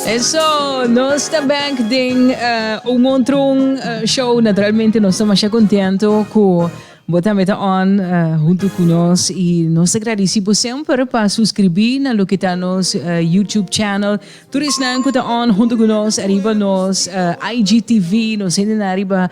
Eso, nos ta back den eh, un montrun eh, show. Naturalmente nos ta masha contento cu bo tambe ta on eh, junto cu nos. Y nos ta agradeci bo semper pa suscribi na lo que ta nos eh, YouTube channel. Tur esnan cu ta on junto cu nos ariba nos eh, IGTV, nos hende na ariba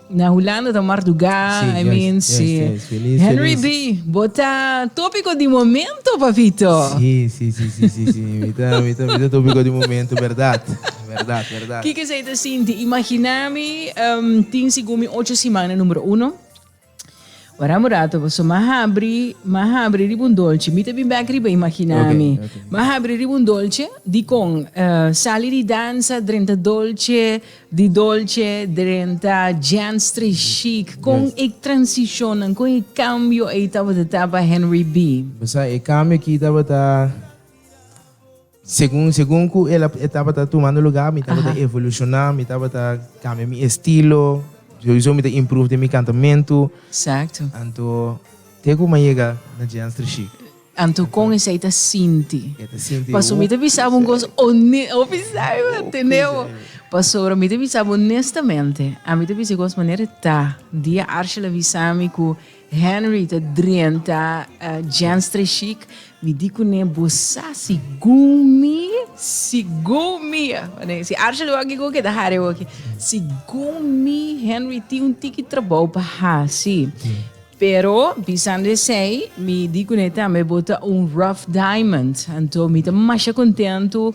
Na Hulanda ta marduga, sí, I mean, yes, sí. Yes, feliz, Henry feliz. B, bo ta tópico di momento, papito. Sí, sí, sí, sí, sí, sí. mi ta, mi ta, mi ta tópico di momento, berdad, berdad, berdad. Kiko esei ta sinti? Imaginá mi um, tin sigun mi ocho simana número uno. Ora un rato, paso ma habri, ma habri riba un dolce. Mi ta bin bek riba imaginá okay, mi. Okay. Ma habri riba un dolce, di kon uh, sali di dansa, drenta dolce, Di Dolce, drenta, Gentstry Chic, kon e transishonnan, kon e kambio ei tabata ta pa Henry B? Mi sa e kambio aki tabata, segun segun ku el a e tabata tumando lugá, mi tabata evolushoná, mi tabata kambia mi estilo, souso mi ta improve den mi kantamentu. Eksakto. Anto, ke ku mi a yega na Gentstry Chic? Anto con esey ta sinti. Paso mi ta bisa bo un cos hone, o bisa mi bo tene bo. Pasobra mi ta bisa bo honestamente, ami ta bisa e cos manera e ta. Dia Arshel a bisa mi cu Henry ta drenta Jens tres chic, mi di cune, Bo sa si gun mi, si gun mi, si Arshel wak e go keda hare wak, si gun mi Henry tin un tiki trabao pa haci. Pero, bisando esei, mi di kuné tambe bo ta un rough diamond. Anto mi ta masha kontentu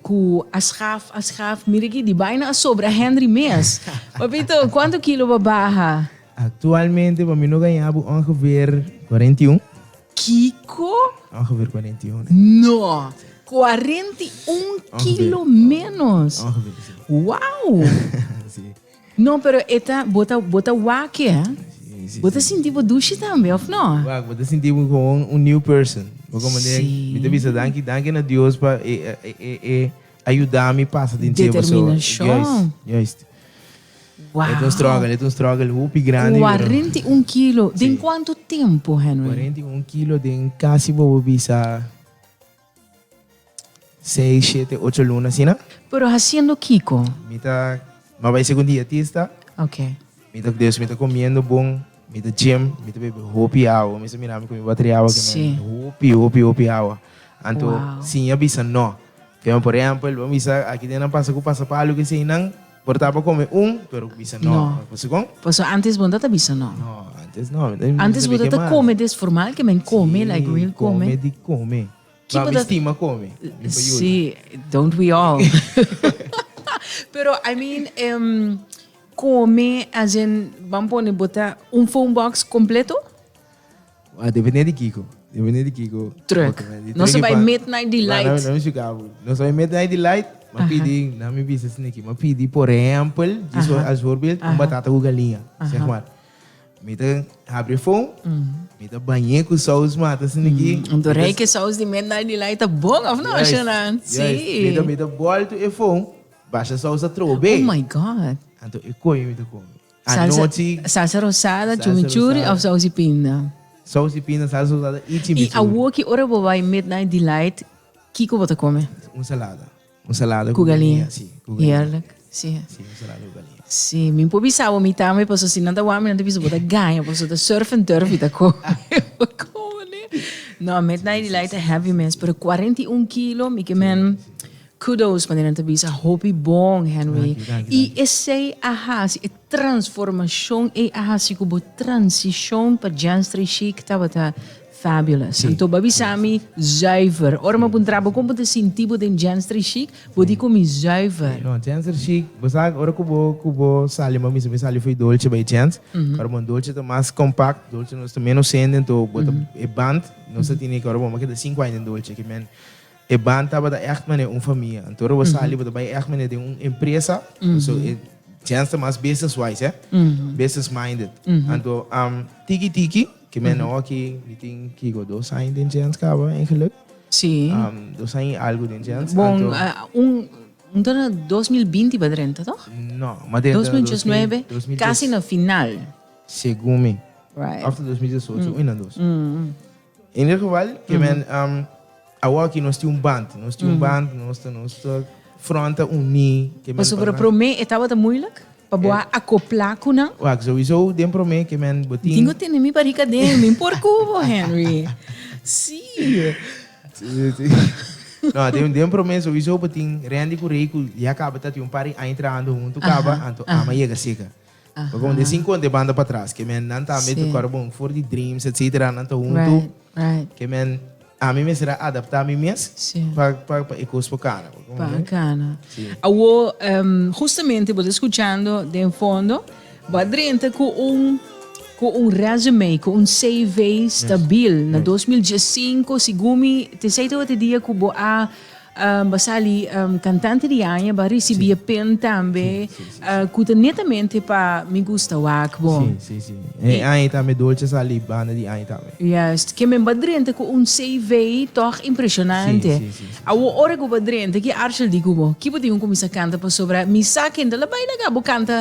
ku a schaf, a schaf, mira aki, di baina a sobra Henry mes. Papito, kuantu kilo bo a baha? Aktualmente pa mi no gañá bo ongeveer kuarenta i un. Kiko? Ongeveer kuarenta i un. No! Kuarenta i un kilo ménos? Ongeveer, si. Wou! Si. No pero e ta bo ta bo ta waki eh bo ta sinti bo dushi tambe of no? Wak bo ta sinti bo como un new person bo como de mi ta bisa danki danki na Dios pa e e e ayuda mi pasa den cier pasobra determinacion juist juist e ta un struggle e ta un struggle hopi grandi pero cuarenta y un kilo den cuanto tempo Henry? cuarenta y un kilo den casi bo bisa. Seis, shete, ocho luna asina. Pero haciendo kico? Mi ta, mi a bay segun dietista. Okay. Mi ta, dus mi ta comiendo bon, mi ta gym, mi ta bebe hopi awa. Mester mira ami cu mi bateri awa cu mi a bebe hopi, hopi, hopi awa. Anto, sin a bisa no. Tem, por ehempel, bo a bisa aki den nan pasa cu pasapalu cu eseinan. Por tapa come un, pero cu bisa no. No. Segon? Paso antes bo no ta bisa no. No, antes no. Mi no Antes bo sabi ta ke ta mas. come des formal ke men come, Si, like real come. come di come. Ki Ba bo mi ta- stima come. Mi pa yuda. Sí, don't we all. Pero I mean, em, come as in, ban pone bo ta un phone box completo? Ah, depende di kiko. Depende di kiko. Truck. Nos a bai midnight delight. Laat mi shuka bo. Nos a bai midnight delight. Ma pidi, na mi bisa sin aki, ma pidi por ehempel, als voorbeeld, un batata cu galinha, zeg maar. Mi ta habri e fon, mi ta bañ'é cu saus mata sin aki. Un toerijke saus di midnight delight ta bon, of no, Shunan? Si. Juist, juist. Mi ta bòl tu e fon, basha saus atrobe. Oh my God! Anto e koe mi ta kome. Anochi. Salsa, salsa rosada, chumichuri of sausi pinda? Sausi pinda, salsa rosada y chimichuri. Y awoki ora bo bai midnight delight kiko bo ta come? Un salada. Un salada cu galinha. Si, cu galinha. Heerlijk. Si. Si, un salada cu galinha. Si, mi por bisa bo mi tambe paso si nan ta wak mi nan ta bisa bo ta gaña paso ta surf and turf y ta come bo come. No, midnight delight ta heavy mes pero cuarenta y un kilo mi ke men. Kudos manera nan ta bisa hopi bon Henry i esei a hasi e transformashon ei a hasi ku bo transishon pa Janstre Chic tabata fabulous anto bo a bisa mi zuiver ora mi a puntra bo kon bo ta sinti bo den Janstre Chic bo di ku mi zuiver. No Janstre Chic bo sa ora ku bo ku bo sali ma mi sa mi sali for Dolce bai Jans ora bon Dolce ta mas compact Dolce nos ta menos hende anto bo ta e band nos ta tini ora bo mi a keda sinku aña den Dolce kimen E ban tabata echt manera un famia. Anto ora bo sali bo ta bai echt manera den un empresa, so e djens ta mas business wise eh, business minded. Anto am tiki tiki ke men nou aki mi tin kiko dos aña den djens kaba en geluk. Si. Am dos aña i algo den djens. Bon, Anto ah, un, un ta na dos mil binti pa drenta toch? no, mas den Dos mil dos mil diecinuebe, dos mil kasi dies na final. segun mi. Right. Of ta dos mil diesocho, un nan dos. In ieder geval, que men, um, awor aquí nos tiene un band, nos tiene un band, nos ta, nos ta fronta uní. que men Paso para para na- promé etapa ta moeilijk. Pa boa acopla cu nan. Wacht, sowieso den promé que men botin. Tin cu tene mi barriga den, mi por cubo, Henry. Sí. Sí, sí. No, den, den promé sowieso botin Randy cu Ray cu ya caba ta tin un par di aña trabajando hunto caba, Aha, anto aha. ama yega seca. Bo con de cinco ante banda pa tras que men nan tambe tu cor bon for di dreams etcetera nan ta junto que men a mi mes era adapta mi mes pa pa pa e cos pa cana pa cana awo justamente bo escuchando den fondo bo drenta cu un cu un resume cu un CV stabil na 2015 según mi te sei te dia cu bo a Ba sali kantante di aña, ba risibí e pen tambe ku ta netamente pa Mi Gusta Wak Bo. Sí, sí, sí. E aña tambe Dolce sali banda di aña tambe. Juist. Ke men ba drenta ku un CV tòg impresionante. Sí, sí, sí, sí. Awor ora ku bo a drenta, ki arshel di ku bo? Ki bo tin ku kuminsá kanta pasobra mi sa ken ta la bai laga bo kanta?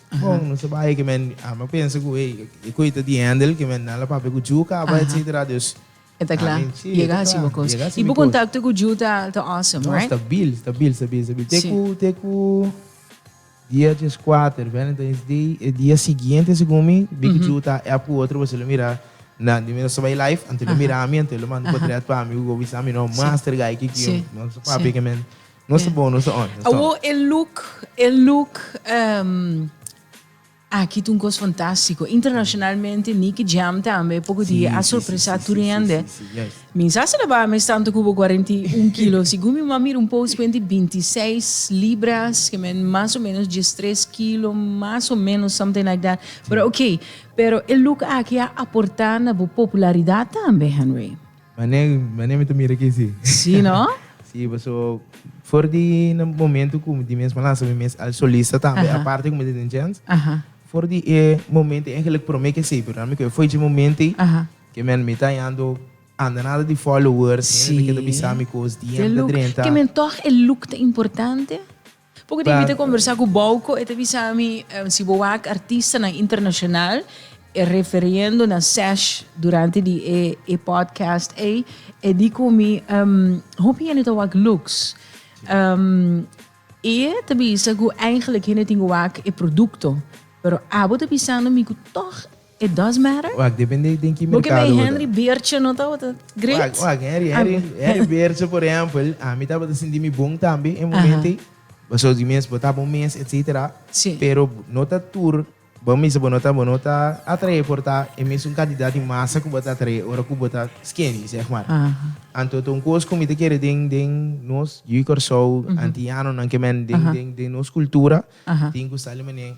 Bon, nos ta bai, ke men, a mi a pensa ku ei, e koe ta di Hendel, ke men nan la papia ku Ju kaba, Aha. etsetera, dus, E ta kla, Amen, sí, e ta yega hasi kla, bo kos. yega hasi I mi bo kos. kontakto ku Ju ta ta awesome, No, right? stabil, stabil, stabil, stabil. Te Sí. ku, te ku dia dieskuater, Valentine's Day, e dia siguiente segun mi, mi ku Ju ta app ku otro pasobra lo mira nan, mi nos ta bai live, anto lo Aha. mira mi, anto lo manda Aha. potret pa mi, ku go bisa mi, no, Sí. master guy, kiki, Sí, nos ta sí. papia, ke men. Nos ta bon, nos ta on. Awo e look, e look um, Aki tu un cos fantástico. Internacionalmente, Nicky Jam también, poco sí, día, a sorpresa sí, sí, turiende. Sí, sí, yes. Mi sa se la ba, me tanto cubo 41 kilo. si gumi ma mira un post cuenti 26 libras, que men más o menos 13 kilo, más o menos something like that. Pero oké, okay, pero el look aquí a aportar na popularidad también, Henry. Manera mi ta mira aki si. Sí no? Sí, paso for di na momento cu di mes por lansa mi mes as solista tambe, aparte cu mi ta den djens, for di e momento eigenlijk prome ke esey, pero mi cu e foi dje momente ke mi mi ta hallando andanada di followers, hende ta keda bisa mi cos, DM ta drenta. Ke men toch e look ta importante? Por cu tin mi ta conversa cu Bouco e ta bisa mi si bo wak artistanan internacional e referiendo na sesh durante di e podcast ey e di cu mi hopi hende ta wak lux y e ta bisa cu eigenlijk hende tin cu wak e producto pero abo ta bisando mi cu toch It does matter? Wak, depende den ki merkado bo ta. Bo ke mi Henry Beertje no tabata great? Wak, wak, Henry, Henry, Henry Beertje por ehempel, ami tabata sinti mi bon tambe e momento ei. Pasobra di mes, bo ta bon mes, etcetera. Sí. Pero no ta tur, bo a bisa bo no ta, bo no ta atraé por ta e mesun kantidat di masa ku bo ta atraé ora ku bo ta skinny, zeg maar. Aha. Anto ta un kos ku mi ta kere den, den nos yu Kòrsou, antianonan ke men, den, den, den nos kultura, tin ku sa alimané.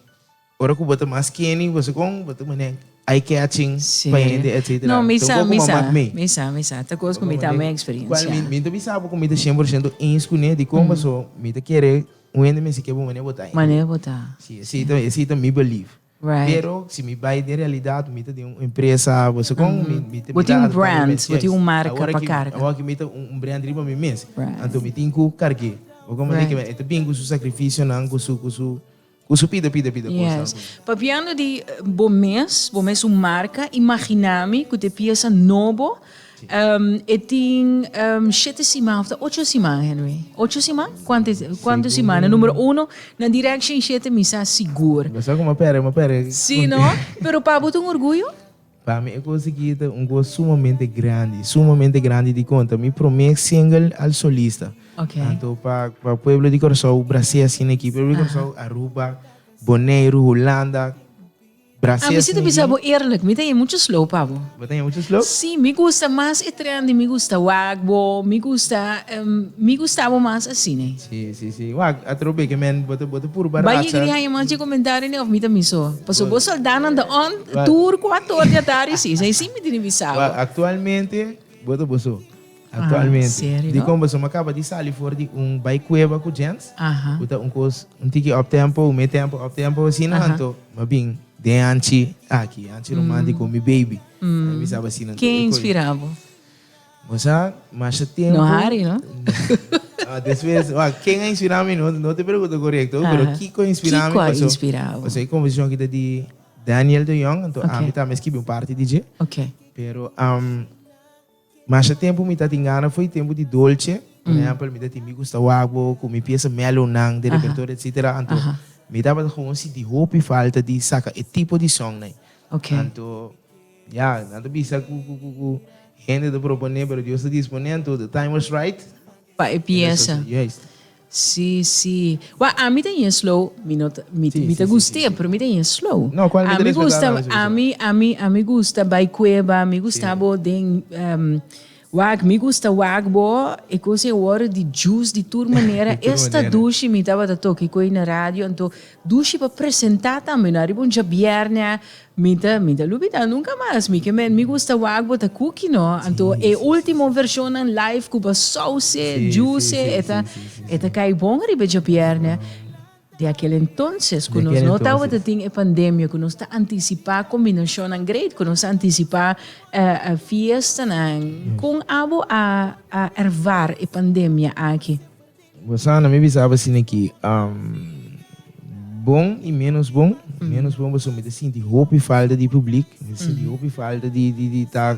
Ora cu bo ta mas skinny, bo segun bo ta mane eye-catching pa hende, etcetera. No, mi sa, mi sa, mi sa, mi sa. Ta cos cu mi ta mi experiencia. Well, mi ta bisa bo cu mi ta cien por ciento eens cu ne dicon paso mi ta kere un hende mester ke bo mane bo ta. Mane bo ta. Si, esi ta, esi ta mi belief. Right. Pero si mi bay den realidad mi ta den un empresa, bo segun mi, mi ta. Bo tin un brand, bo tin un marca pa carga. Awor aki mi ta un brand riba mi mes. Right. Anto mi tin cu carge. Bo ta mane ke e ta bin cu su sacrificionan, cu su, cu su. Cu su pida, pida, pida cosa Yes. algun. Papiando di bo mes, bo mes un marca, imagina mi cu te pieza nobo, em, e tin em, shete siman, of ta ocho siman, Henry? Ocho siman? Cuanto, e- cuanto siman? Na numero uno, na direction shete mi sa sigur. Lo sa cu ma pere, ma pere. Si no, pero pa bo ta un orgullo? Pa mi e cos aki ta un cos sumamente grandi, sumamente grandi dicon ta mi prome single al solista, tanto pa pa pueblo di Curaçao, Brasé asina aki, pueblo di Curaçao, Aruba, Boneiru, Hulanda, Brasé asina aki. Mi ta bisa bo eerlijk, mi ta yen muchos low pa bo. Bo ta yen muchos low? Sí, mi gusta mas e trend di mi gusta wak bo, mi gusta mi gustabo mas asina. Si, si, wak, atro beke men bo ta bo ta puru barasa. Bai yega di haña mas dje komentario ne of mi ta miso? Paso bo soldánan ta on tur kuato or di atardi si. Esei si mi tin di bisa bo. Wak, aktualmente bo ta boso. Aktualmente. Serio? Dikon boso? Mi a kaba di sali for di un bai kueba ku Jens, ku ta un kos un tiki optempo, un metempo, optempo asina. Anto mi a bin den anchi aki, anchi romántico, mi baby. Mi a bisa bo asina anto. Ke inspirá bo? Masha, masha tempo. No hari no. Ah, despues, wak, ken a inspirá mi? No, no te pregunta korekto, Aha. pero kiko a inspirá mi? Kiko a Paso, inspirá bo? paso e komposishon kita di Daniel de Jong, anto Oké. ami tambe skibi un parti di dje. Ok. Pero am, masha tempo mi ta tin gana fo'i tempo di dolce. Por ehempel, mi ta tin mi gusta wak bo ku mi piesa melownan di Aha. repertorio, etsetera. Anto Aha. mi tabata gewoon sinti hopi falta di saka e tipo di sòngnan. Ok. Anto. Ya, nan ta bisa cu cu hende ta proponé, pero Dios ta disponé anto the time was right. Pa e pieza. Juist. Sí, sí. Wak, ami ta yen slow, mi no ta, mi, mi ta gust'é, pero mi ta yen slow. No, cual mi ta respetá tambe, sí, sí. Ami gusta, ami, ami gusta bai cueba, mi gusta abo den, Wak, mi gusta wak bo e cos e worde di juice di tur manera esta dushi mi tabata toki cu ei na radio anto dushi pa presenta tambe no ariba un djabierne mi ta mi ta lubida nunca mas mi ke mi gusta wak bo ta cookie no anto e ultimo versionnan live cu ba sauce juice e ta e ta cai bon ariba e djabierne. Di akil entonces ku nos no tabata tin e pandemia ku nos ta antisipá kombinashonnan great, ku nos ta antisipá fiestanan. Kon abo a ervare e pandemia aki? Rosana, mi bisaba asina ki bon i ménos bon. Ménos bon pasobra mi ta sinti hopi falta di publik, mi ta sinti hopi falta di ta.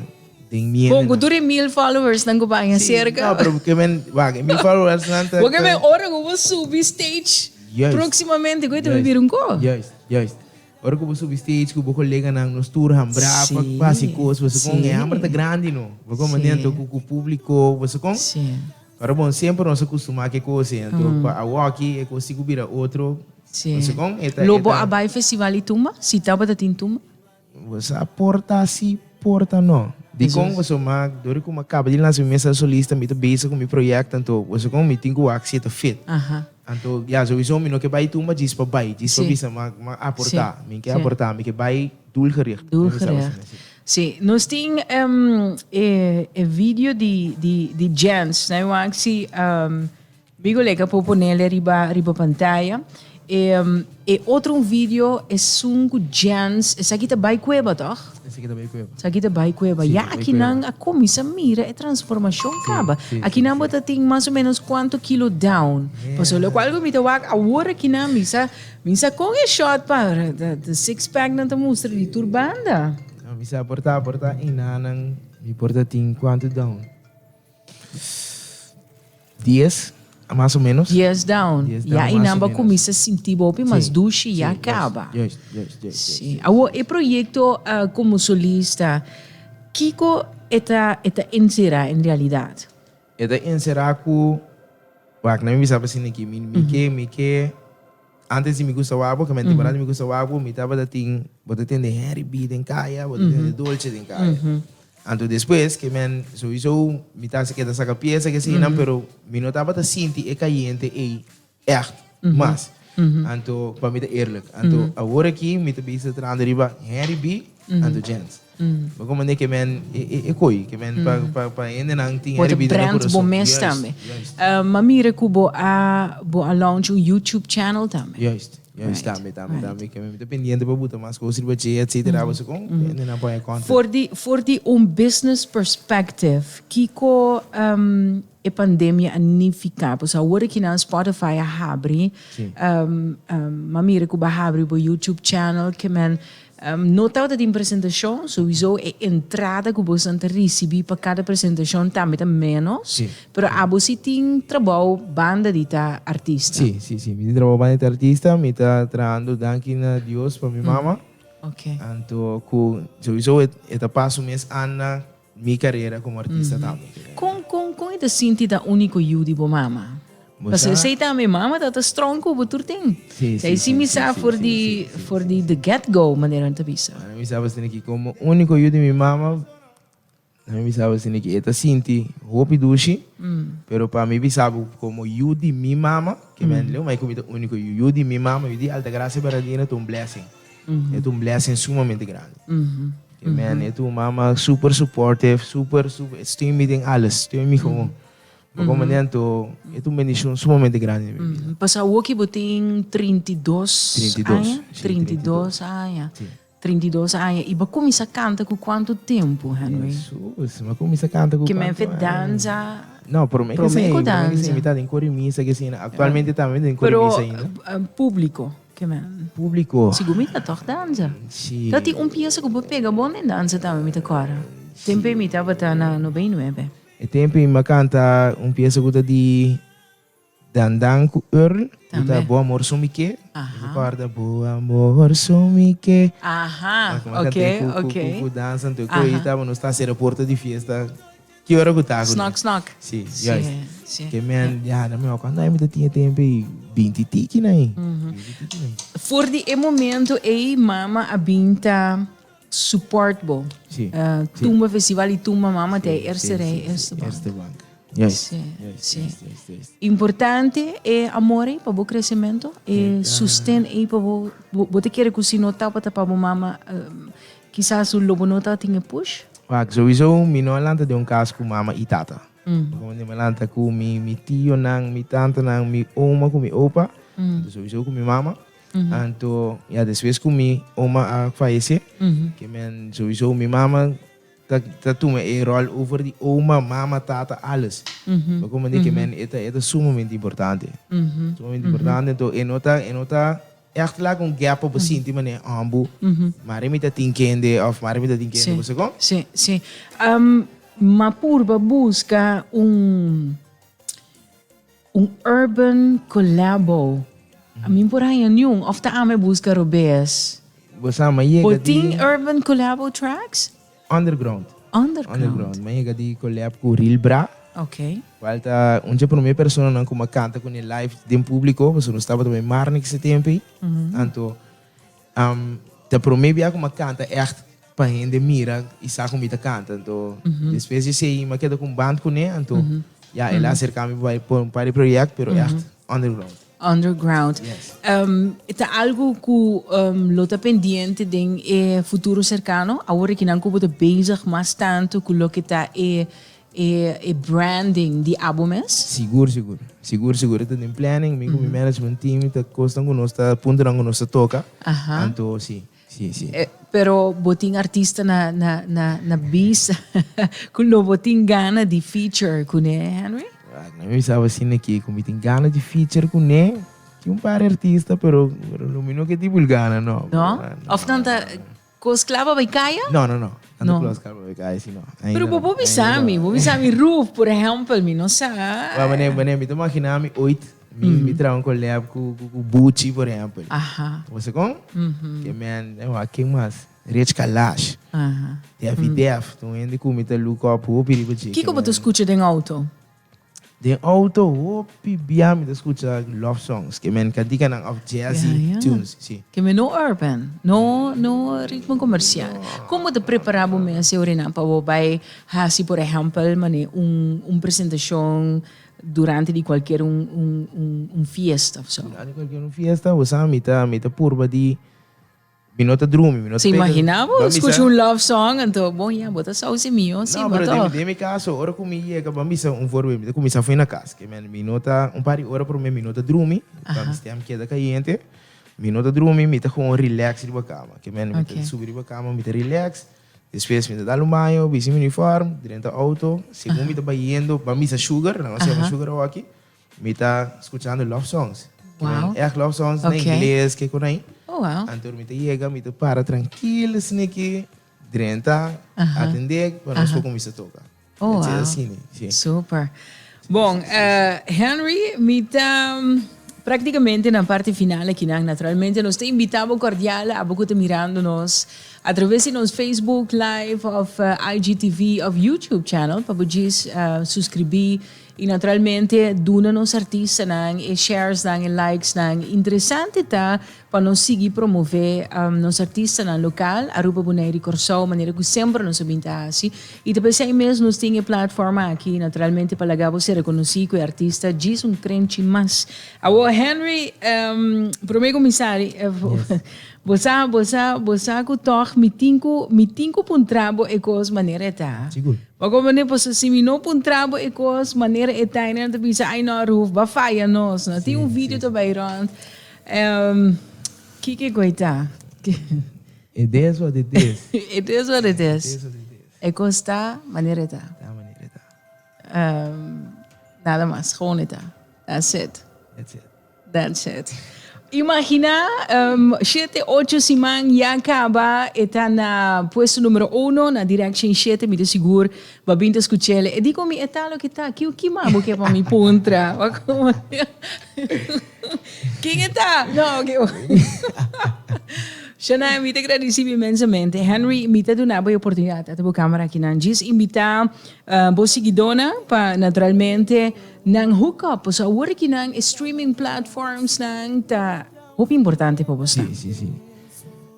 den miente nan. Bon, ku tur e mil followersnan ku baña serka. No, pero ke men, wak, e mil followersnan ta. Bo ke men ora ku bo subi stage proksimamente ku e ta bira un kos. Juist, juist. Ora ku bo subi stage ku bo koleganan, nos tur hambra pa pa hasi kos, bo sa kon, e hambra ta grandi no, bo kon mane anto ku ku publiko, bo sa kon. Pero bon, semper nos a kustumá ku e kos ei, anto pa awoki e kos si ku bira otro, bo sa kon, e ta, e ta. Lo bo a bai festival di tumba? Si ta bo ta tin tumba? Boso a porta si, porta no. Dikon boso mak, dor ku mi a kaba di lansa mi mester solista, mi ta bezig ku mi proyekto, anto boso kon mi tin ku wak siete fit. Anto ya souiso mi no ke bai tumba djis pa bai, djis pa bisa, ma mi a porta, mi ke a porta, mi ke bai doelgericht. Si, nos tin e video di di di djens, na e wak si Bigo leka por ponele riba riba pantaya e e otro un video esun cu Jens esaki ta bay cueba toch? Esaki ta bay cueba. Esaki ta bay cueba. Si, ya aki nan a cuminsa mira e transformacion caba. Si, si, aki nan bo ta tin mas o menos cuanto kilo down? Yeah. Pasobra lo cual cu mi ta wak awor aki nan mi sa mi sa con e short pa ta six pack nan ta mustra di tur banda. No mi sa por ta por ta ina nan mi por ta tin cuanto down. Dies mas o menos. Dies down. Dies down, ya i nan ba kuminsa sinti bo hopi mas dushi, ya kaba. Juist, juist, juist. Si. Awo e proyekto uh, komo solista, kiko e ta, e ta enserá en realidat? E ta enserá ku, wak, na mi bisa pa siniki, mi, mi ke, mi ke. Antes di mi gusta wak bo, kamente bo na di mi gusta wak bo, mi tabata tin, bo ta tende Henry B den kaya, bo ta tende Dolce den kaya. Anto despues ke men, sowiso mi ta hasi keda saka piesa ke sinan, pero mi no tabata sinti e kayente ei ègt mas. Anto pa mi ta eerlijk. Anto awor aki mi ta bisa trando riba Henry B anto Jens. Bo con mende ke men e koi ke men pa hendenan tin herida na corazon. Bo ta brand bo mes tambe. Ma mire cu bo a bo a launch un YouTube channel tambe. Juist, juist tambe, tambe, tambe ke men ta pendiente pa buta mas cos riba dje etcetera abaso con hendenan pone content. For di for di un business perspective kico e pandemia a nifica pasobra awor ki nan Spotify a habri ma mire cu bo a habri bo YouTube channel ke men No tabata tin presentashon, souiso e entrada ku bosan ta risibí pa kada presentashon tambe ta ménos, pero abo sí tin trabou banda di ta artista. Sí, sí, sí, mi tin trabou banda di ta artista, mi ta trahando danki na Dios pa mi mama, anto ku souiso e ta pasa un mes anda. Mi carera como artista tambe. Con con con e ta sinti ta unico yiu di bo mama? Pasobra esey tambe e mama ta ta strong cu bo tur tin. Sí, Esey sí, sí sí, mi sí, sa sí, for sí, di sí, sí, sí, for sí, di sí. the get go manera nan ta bisa. Mano mi sa pa sinti ki como unico yiu di mi mama nan mi sa pa sinti ki e ta sinti hopi dushi pero pa mi bisa bo como yiu di mi mama ke mi a entender bo ma e cu mi ta unico yiu yiu di mi mama yiu di Altagracia Bernardino ta un blessing. E ta un blessing sumamente grandi. Amen. E ta un mama super supportive, super, super, e steun mi den alles, steun mi gewoon. Bo como nento, e ta un bendición sumamente grandi den mi vida. Pas awoki bo tin 32 32, aña, sí, 32 aña, Sí. 32 aña. I bo a cuminsa canta cu cuanto tempo, Henry? Jesus, ma comienza canta cu Che men cuanto fe año? danza, No, pero me Pero que me sing, que me que danza. sing, mi ta den cori misa que sing. Actualmente también den cori pero misa ainda. eh, público. Ke men. Publico. Sigur mi ta tòg dansa. Si. Ta tin un piesa ku por pega bon den dansa tambe mi ta kòrda. Tempe mi tabata na Nobé i Nuebe. E tempe mi a kanta un piesa ku ta di Dan Dan ku Earl ku ta Bo amor son mi ke. Mi ta kòrda Bo amor son mi ke. Aha, oke, oke. Ku dansa anto e koi tabata nos ta sera porta di fiesta. Ki ora ku ta ku Snak snak. Si, juist. Si, si. Ke men, ya, ta mihó kuantu ami ta tin e tempu ei, binti tiki na ei. Binti tiki na ei. For di e momento ei mama a bin ta support bo. Si, Ah, si. tumba festival i tumba mama te e erste rei, e erste bank. Erste bank. Juist. Si, Juist, si. juist, juist, juist. Importante e amor ei pa bo kresemento, e Keda. susten ei pa bo, bo, bo ta kere ku si no tabata pa bo mama, Kisas su lobo no ta tin e push. Wak, Sowiso mi no a lanta den un kas ku mama i tata. Pasobra mi a lanta ku mi tionan, mi tantanan, mi oma ku mi opa, anto sowiso ku mi mama. Anto, ya despues ku mi oma a fayesé, ke men sowiso mi mama ta tuma e ròl over di oma, mama, tata, alles. Mi a komprendé ke men e ta sumamente importante. Sumamente importante, anto e no ta. Echt laga un gap pa bo sinti manera hombu mare mi ta tin kende of mare mi ta tin kende bo segon? Si, si. M'a purba buska un un urban collabo. A mi por haña niun of ta ame buska robes. Bo sa ma yega di. Bo tin urban collabo tracks? Underground. Underground. M'a yega di colab cu Real Bra. Ok. Cual ta un dje prome personanan cu m'a canta cune live den publico, pasobra nos tabata bay Marnix e tempo'i. Anto ta prome bia cu m'a canta echt pa hende mira y sa cu mi ta canta. Anto despues d'esey m'a keda cu un band cune, anto ya el a acercami pa bay pa un par de project, pero echt. Underground. Underground. Yes. Um, ta algo cu um, lo ta pendiente den e futuro cercano. Ahora que nan cubo ta bezig mas tanto cu lo que ta e, e, e branding di Abomes. Sigur, sigur. Sigur, sigur. Ita den planning, mi cu mi management team, ta cosnan cu nos ta, puntonan cu nos ta toca. Aha. Anto, si. Sí, sí. Eh, pero bo tin artista na, na, na, na bis cu lo bo tin gana di feature cu ne, Henry? Ah, no me sabe si ne que mi tin gana di feature cu ne. Tin un par artista, pero, pero lo mi no que tipo gana, no. No? Ah, no, Of tanta no, no. cos clava bij kaya? No, no, no. Tanto No. no. close calma, ik ai, si no. Ainda Pero no, bo bo ainda bisa no. mi, bo bisa mi roof, por ejemplo, mi no sa. Wa, wanneer, wanneer, mi te imagina mi ooit Mi mi traha un collab cu cu Bucci por ehempel. Aha. Bo sa con? Ke man e wak ken mas? Rich Kalash, Aha. Daffy Def, ta un hende cu mi ta look up hopi riba dje. Kiko bo ta scucha den auto? Den auto hopi bia mi ta scucha love songs, ke men cantica nan of jazzy Ya, ya. tunes, si. Ke men no urban, no no ritmo comercial. Con bo ta prepara bo mes e orinan pa bo bay haci por ehempel mane un un presentacion Durante di cualkier un fiesta of so. Durante cualkier un fiesta bo sa mi ta mi ta purba di mi no ta drumi mi no ta pega. Imagina bo scucha un love song anto bo ya bo ta sauce mi yo si bo toch. Den mi caso ora cu mi yega bo a bisa un voorbeeld mi ta cuminsa fo'i na cas ke men mi no ta un par di ora prome mi no ta drumi pasobra mi stem keda cayente mi no ta drumi mi ta gewoon relax riba cama ke men mi ta subi riba cama mi ta relax. Despues mi ta dal un baño, bisti mi uniform, drenta auto, segun mi ta bai yendo pa misa Sugar, nan a sirba Sugar awaki, mi ta scuchando love songs, kinan echt love songs, na ingles, ke konai, anto mi ta yega, mi ta para trankil esniki drenta, atende pa nos por cuminsa toca. Oh wow, super. Bon, Henry, mi ta practicamente na parti final akinan. Naturalmente nos ta invita bo cordial, abo cu ta mirando nos a traves di nos Facebook Live of IGTV of YouTube channel, pa bo djis suscribi y naturalmente duna nos artistanan e sharesnan e likesnan. Interesante ta Pa nos sigui promové nos artistanan lokal, Aruba Bonaire i Kòrsou, manera ku semper nos a bin ta hasi, i ta p'esei ei mes nos tin e platform aki, naturalmente pa laga bo ser rekonosí ku e artista djis un krenchi mas. Awor Henry, promé kuminsari, bo sa bo sa bo sa ku tòg mi tin ku mi tin ku puntra bo e kos manera e ta. Bo a komprendé, pasobra si mi no puntra bo e kos manera e ta, e nan ta bisa ai no Aruf, bo a faya nos, no tin un video ta bai rònt. Kiki Koita, ke. It is what it is. It is what it is. E kos ta manera e ta. Ta manera e ta. Nada mas, gewoon e ta. That's it. That's it. That's it. Imagina, shete, ocho siman ya kaba e ta na puesto numero uno na Direction shete, mi ta sigur Babin ta skuch'el. E di ku mi, E ta loke ta, kiu kima bo ke pa mi puntra? Kin e ta? No, oke wacht. Shania, mi ta gradisi bo inmensamente. Henry, mi ta duna bo e oportunidad at bo camera akinan. Djis invita ah, bo siguidónan pa naturalmente nan hook up. Pasobra awor akinan e streaming platformsnan ta hopi importante pa boso. Sí, sí, sí.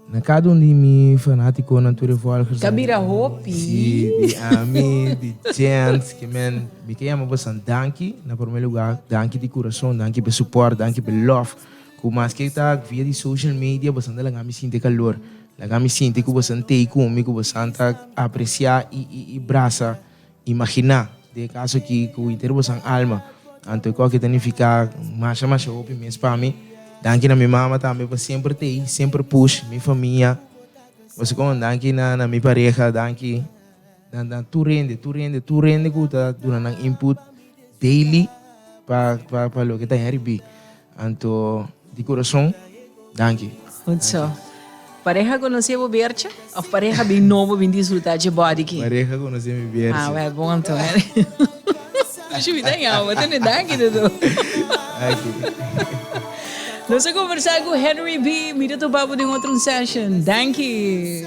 Na cada un di mi fanaticonan tur e volgers. Ta bira hopi. Sí, di ami, di djent, ke men, mi ta yama bosan danki, na prome luga, danki di curason, danki p'e support, danki p'e lof, cu maske ta via di social media, bosan ta laga mi sinti e calor, laga mi sinti cu bosan tei cu mi, cu bosan ta aprecia y, y, y brasa. Imaginá, den e kaso aki ku henter boso nan alma, anto e koke ta nifiká masha masha hopi mes pa mi. Danki na mi mama tambe pa semper ta ei, semper push mi famia. Boso kon, danki na na mi pareha, danki na na tur hende, tur hende, tur hende ku ta duna nan input daily pa pa pa loke ta hen ribí. Anto di kurason danki. Good so. Pareha konosé e bo biertje of pareha bin nobo bin disfrutá dje bòdiki? Pareha konosé mi biertje. Ah wèl bon anto wèl. Ashu mi ta yama tene danki ta do. Nos a kombersá ku Henry B. Mi ta topá bo den otro un session. Danki.